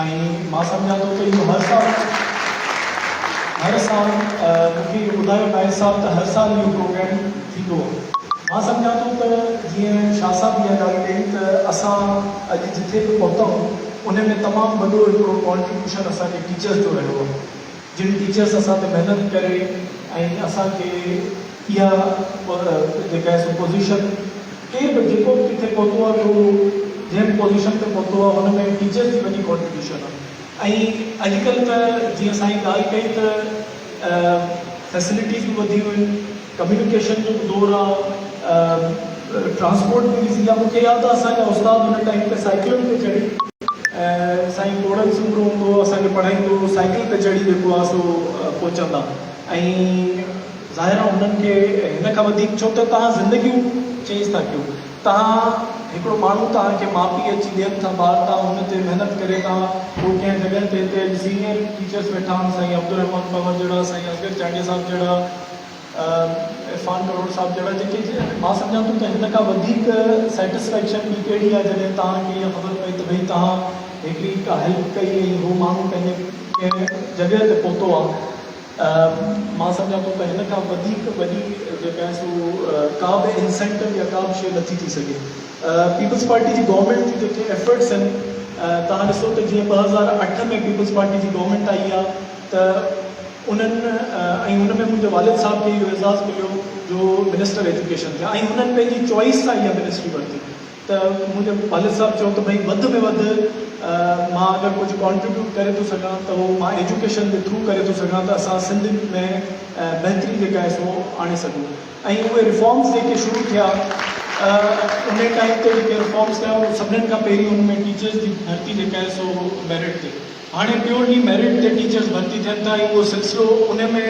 ۽ مان سمجهان ٿو ته اهو هر سال هر سال مون کي اهو ٻڌايو نائين صاحب ته هر سال اهو پروگرام ٿيندو مان سمجهان ٿو ته جيئن شاهه صاحب اها ڳالهه ڪئي ته اسان اڄ جٿي به پهتائون ان ۾ تمام وڏو هڪڙو ڪانٽريبيوشن اسان جي ٽيچرس جو رهيو آهي جن ٽيچرس اسان تي محنت ڪري ۽ اسان کي اها جيڪا هي سو پوزيشن ڪير به جيڪو به ڪٿي پهتو آهي ڪو جنهن به پوزيشن تي پهتو آهي هن ۾ ٽيچرس جي وڏي ڪانٽريبيوشن آهي ۽ اڄ ڪلهه ته جيئن اسان هي ڳالهه ڪئي ته فيسلٽيز به وڌيون آهن ڪميونيڪيشن جو به دور آ ٽرانسپورٽ به ايزي آ مون کي ياد آ اسان جا استاد ان ٽائيم تي سائيڪلن تي چڙهي ۽ سائين ڪوڙن سومرو هوندو هو اسان کي پڙهائيندو هو سائيڪل تي چڙهي جيڪو آ سو پهچندا ۽ ظاهر آ هنن کي هن کان وڌيڪ ڇو ته توهان زندگيون چينج ٿا ڪيو توهان هڪڙو ماڻهو توهان کي ماء پيء اچي ڏين ٿا ٻار توهان هن تي محنت ڪري ٿا هو ڪنهن جڳهه تي هتي اڄ سينئر ٽيچرس ويٺا آهن سائين عبدالرحمان پنور جهڙا سائين اصغر چانڊيا صاحب جهڙا عرفان ڪرڙ صاحب جهڙا جيڪي مان سمجهان ٿو ته هن کان وڌيڪ سيٽسفيڪشن ٻي ڪهڙي آهي جڏهن توهان کي اها خبر پئي ته ڀئي توهان هڪڙي ڪا هيلپ ڪئي ۽ هو ماڻهو پنهنجي ڪنهن جڳهه تي پهتو آهي مان سمجهان ٿو ته هن کان وڌيڪ وڏي جيڪا آهي سو ڪا به انسينٽو يا ڪا به شيء نٿي ٿي سگهي پيپلز پارٽي جي گورنمينٽ جي جيڪي ايفرٽس آهن توهان ڏسو ته جيئن ٻه هزار اٺ ۾ پيپلز پارٽي جي گورنمينٽ آئي آهي ته انهن ۽ ان ۾ منهنجي والد صاحب کي اهو اعزاز مليو جو منسٽر ايجوڪيشن ٿيا ۽ انهن پنهنجي چوائيس سان اها منسٽري ورتي ته منهنجي والد صاحب چيو ته ڀئي وڌ ۾ وڌ مان اگر ڪجهه ڪانٽريبيوٽ ڪري ٿو سگهان ته اهو مان ايجوڪيشن جي ٿرو ڪري ٿو سگهان ته اسان سنڌ ۾ بهتري جيڪا آهي سو آڻي سگهون ۽ اهي ريفارمز جيڪي شروع ٿيا ان ٽائيم تي جيڪي ريفارمز ٿيا سڀني کان پهرين ان ۾ ٽيچرز جي ڀرتي جيڪا آهي سو ميرٽ تي هاڻي پيورلي ميرٽ تي ٽيچرز ڀرتي ٿين ٿا ۽ اهو سلسلو ان ۾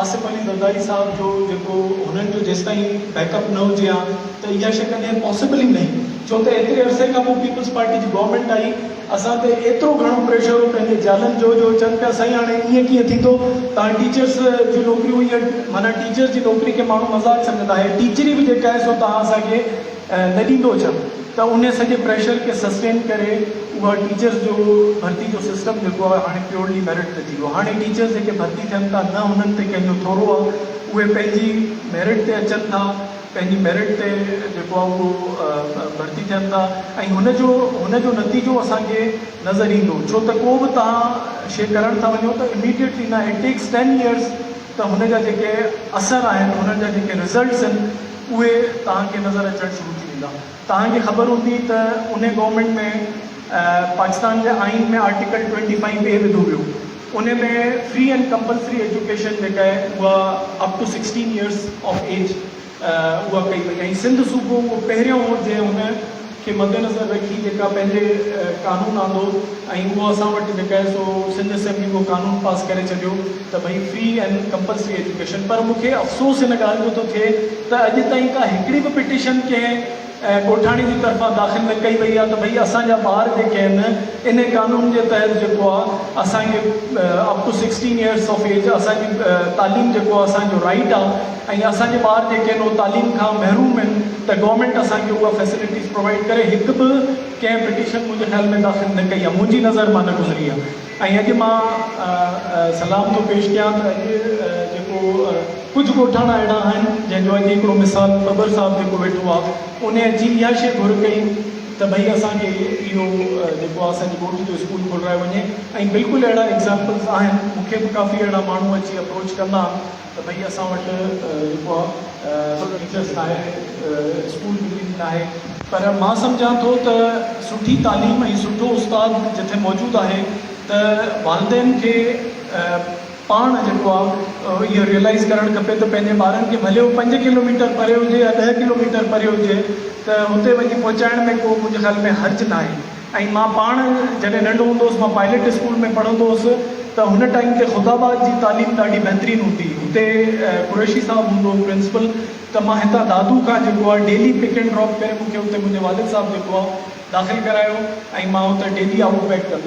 آصف علي زرداري صاحب جو جيڪو هنن جو جيستائين بيڪ اپ نه هجي ها ته اها شئي ڪڏهن پاسيبل ئي ناهي ڇو ته ايتري عرصي کان پوء پيپلز پارٽي جي گورنمينٽ آئي اسان تي ايترو گهڻو پريشر هو پنهنجي جالن جو جو چون پيا سائين هاڻي ائين ڪيئن ٿيندو تان ٽيچرز جون نوڪريون هيئن معنيٰ ٽيچرز جي نوڪري کي ماڻهو مذاق سمجهندا هي ٽيچري به جيڪا آهي سو توهان اسان کي نه ڏيندو ڇا ته ان سڄي پريشر کي سسٽين ڪري اها ٽيچرس جو ڀرتي جو سسٽم جيڪو آهي هاڻي پيورلي ميرٽ تي ٿي ويو هاڻي ٽيچرس جيڪي ڀرتي ٿين ٿا نه هنن تي ڪنهن جو ٿورو آهي اهي پنهنجي ميرٽ تي اچن ٿا پنهنجي ميرٽ تي جيڪو آهي اهو ڀرتي ٿين ٿا ۽ هن جو هن جو نتيجو اسان کي نظر ايندو ڇو ته ڪو به توهان شي ڪرڻ ٿا وڃو ته اميڊيٽلي نه اٽ ٽيڪس ٽين ايئرس ته هن جا جيڪي اثر آهن هنن جا جيڪي رزلٽس آهن اهي توهان کي نظر اچڻ شروع ٿي ويندا. توهان کي خبر هوندي ته انهي گورنمينٽ ۾ پاڪستان جي آئين ۾ آرٽيڪل ٽوئنٽي فائيو اي وڌو ويو انهي ۾ فري اينڊ ڪمپلسري ايجوڪيشن جيڪا اهي اها up to sixteen years of age اها ڪئي وئي ۽ سنڌ صوبو اهو پهريون هو جنهن هن کي مدنظر رکي جيڪا پنهنجي قانون آندو ۽ اهو اسان وٽ جيڪا آهي سو سنڌ اسيمبلي اهو قانون پاس ڪري ڇڏيو ته ڀئي فري اينڊ ڪمپلسري ايجوڪيشن پر مون کي افسوس ان ڳالهه جو ٿو ٿئي ته اڄ تائين ڪا هڪڙي به پٽيشن ڪنهن ڳوٺاڻي جي طرفان داخل نه ڪئي وئي آهي ته ڀئي اسان جا ٻار جيڪي آهن ان قانون جي تحت جيڪو آهي اسان کي up to sixteen years of age اسان جي تعليم جيڪو آهي اسان جو رائيٽ آهي ۽ اسان جي ٻار جيڪي نو تعليم کان محروم آهن ته گورنمينٽ اسان کي اها فيسلٽيز پرووائيڊ ڪري هڪ به ڪنهن پٽيشن منهنجي خيال ۾ داخل نه ڪئي آهي منهنجي نظر مان نه گذري آهي ۽ اڄ مان سلام ٿو پيش ڪيان ته اڄ جيڪو ڪجهه ڳوٺاڻا اهڙا آهن جنهن جو اڄ هڪڙو مثال ٻٻر صاحب جيڪو ويٺو آهي انهي اچي اها شي گهر ڪئي ته ڀئي اسان کي اهو جيڪو آهي اسان جي ڳوٺ جو اسڪول کولرائي وڃي ۽ بلڪل اهڙا ايگزامپلز آهن مون کي به ڪافي اهڙا ماڻهو اچي اپروچ ڪندا آهن ته ڀئي اسان وٽ جيڪو آ سو ٽيچرس ناهي اسڪول بلڊنگ ناهي پر مان سمجهان ٿو ته سٺي تعليم ۽ سٺو استاد جٿي موجود آهي ته والدين کي پاڻ جيڪو آ اهو ريئلائز ڪرڻ کپي ته پنهنجي ٻارن کي ڀلي هو پنج ڪلو ميٽر پري هجي يا ڏهه ڪلو ميٽر پري هجي ته هتي وڃي پهچائڻ ۾ ڪو منهنجي خيال ۾ حرج ناهي. ۽ مان پاڻ جڏهن ننڍو هوندو هوس مان پائليٽ اسڪول ۾ پڙهندو هوس ته هن ٽائيم تي خدا آباد جي تعليم ڏاڍي بهترين هوندي هتي قريشي صاحب هوندو هو پرنسپل ته مان هتان دادو کان جيڪو آهي ڊيلي پڪ اينڊ ڊراپ ڪري مونکي هتي منهنجي والد صاحب جيڪو آهي داخل ڪرايو ۽ مان هتي ڊيلي آئوٽ بيڪ ڪندو